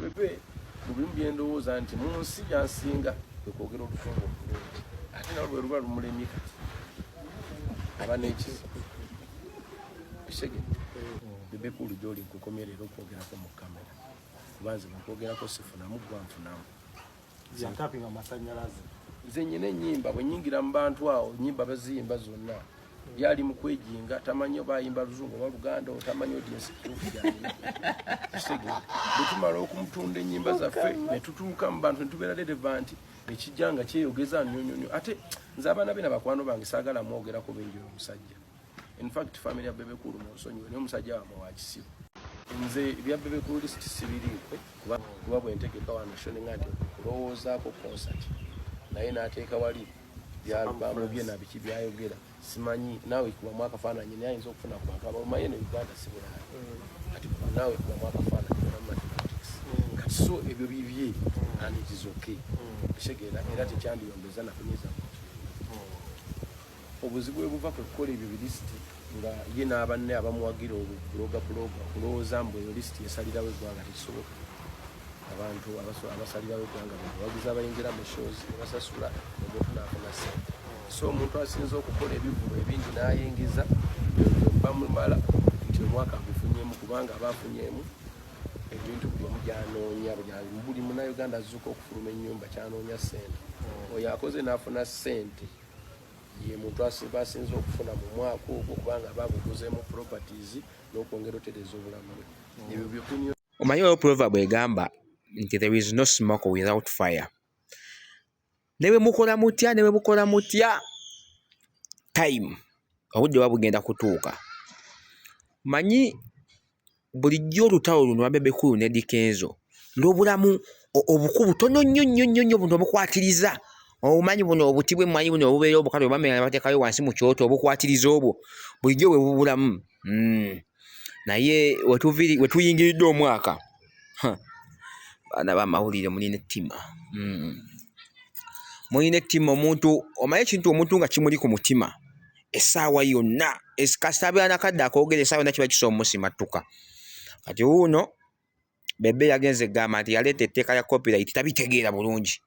Bebe mu bimu bye ndowooza nti mu nsi gyansinga kwe kwogera olufunga obulungi ate nawe lwe luba lumulemye kati aba n'ekizibu kisege bebe kulu gy'oli nkukomye leero okwogerako mu kamera kuba nze bwekwogerako sifunamu gwa nfunamu yantapinga amasanyalaze nze nyina enyimba bwenyingira mu bantu awo nyimba baziyimba zonna yali mu kwejinga tamanyi oba ayimba luzungu oba luganda otamanyi odiensi kituufu kyalina bwetumala okumutunda enyimba zaffe netutuuka mu bantu netubeera dereva nti ekijja nga kyeyogeza nyonyonyo ate nze abaana be na bakwano bange saagala mwogerako benjira omusajja In fact family ya Bebe Cool munsonyiwe naye omusajja wamwe wa kisiru. Nze ebya Bebe Cool list sibiriiko kuba kuba bwe ntegeka wano shoni ng'ate kulowoozaako concert naye n'ateeka wali byalbamu bye na biki byayogera simanyi naawe kubamu akafaananyi naye ayinza okufuna ku bantu abalumaye ne Uganda si bulala mm. kati naawe kubamu akafaananyi oba mathematics mm. kati so ebyo bibye mm. and it is okay kitegeera era tekyandiyombeza nakunyiza muntu Obuzibu we buva kwe kukola ebyo bilisiti nga ye n'abanne abamuwagira okuloga kuloga okulowooza mbu eyo lisiti esalirawo eggwanga tekisoboka. Abantu abasalirawo eggwanga bebawagizi abayingira mu shows ne basasula omuntu n'afuna ssente. So omuntu asinza okukola ebivulu ebingi n'ayingiza bamumala nti omwaka agufunyemu kubanga aba afunyemu ebintu byomu byanoonya buli munauganda azuuka okufuluma ennyumba kyanoonya ssente oyo akoze n'afuna ssente ye muntu asinga asinze okufuna mu mwaka ogwo kubanga baguguzeemu properties n'okwongera otereeza obulamu bwe ebyo byokunyo omanyi waliwo proverb egamba nti there is no smoke without fire ne bwe mukola mutya ne bwe mukola mutya time obudde buba bugenda kutuuka manyi bulijjo olutalo luno lwa Bebe Cool ne Dikenzo lubulamu obuku butono nnyo nnyo nnyo nnyo buno obukwatiriza obumanyi buno obuti bw'emmwanyi buno obubeera obukale obamera ne bateekayo wansi mu kyoto obukwatiriza obwo bulijjo bwe bubulamu hmm. naye we tuyingiridde omwaka baana b'amawulire mulina ettima hmm. mulina ettima omuntu omanyi ekintu omuntu nga kimuli ku mutima essaawa yonna kasita abeera nakadde akoogera essaawa yonna kiba kisobola omusimattuka kati wuuno bebe yagenze gamba nti yaleeta etteeka lya copyright tabitegeera bulungi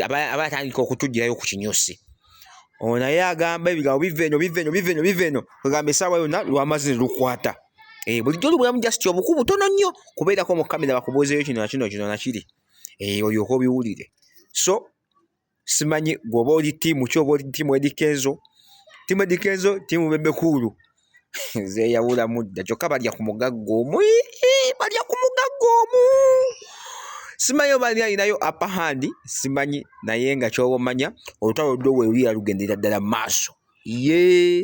aba atandika okutugirayo ku kinyusi ono naye agamba ebigambo biva eno biva eno biva eno biva eno kwegamba essaawa yonna lwamazi ne lukwata eh, bulijjo olubulamu just obuku butono nnyo kubeerako mu kamera bakubuuzeyo kino nakino kino nakiri eh, olyoka obiwulire so simanyi gwoba oli tiimu ki oba oli tiimu edikenzo tiimu edikenzo tiimu bebekuulu zeyawulamu dda kyokka balya ku mugagga omu balya ku mugagga omu simanyi oba ali alinayo apa handi simanyi naye nga kyoba omanya olutalo lwo weluya lugendera ddala maaso yee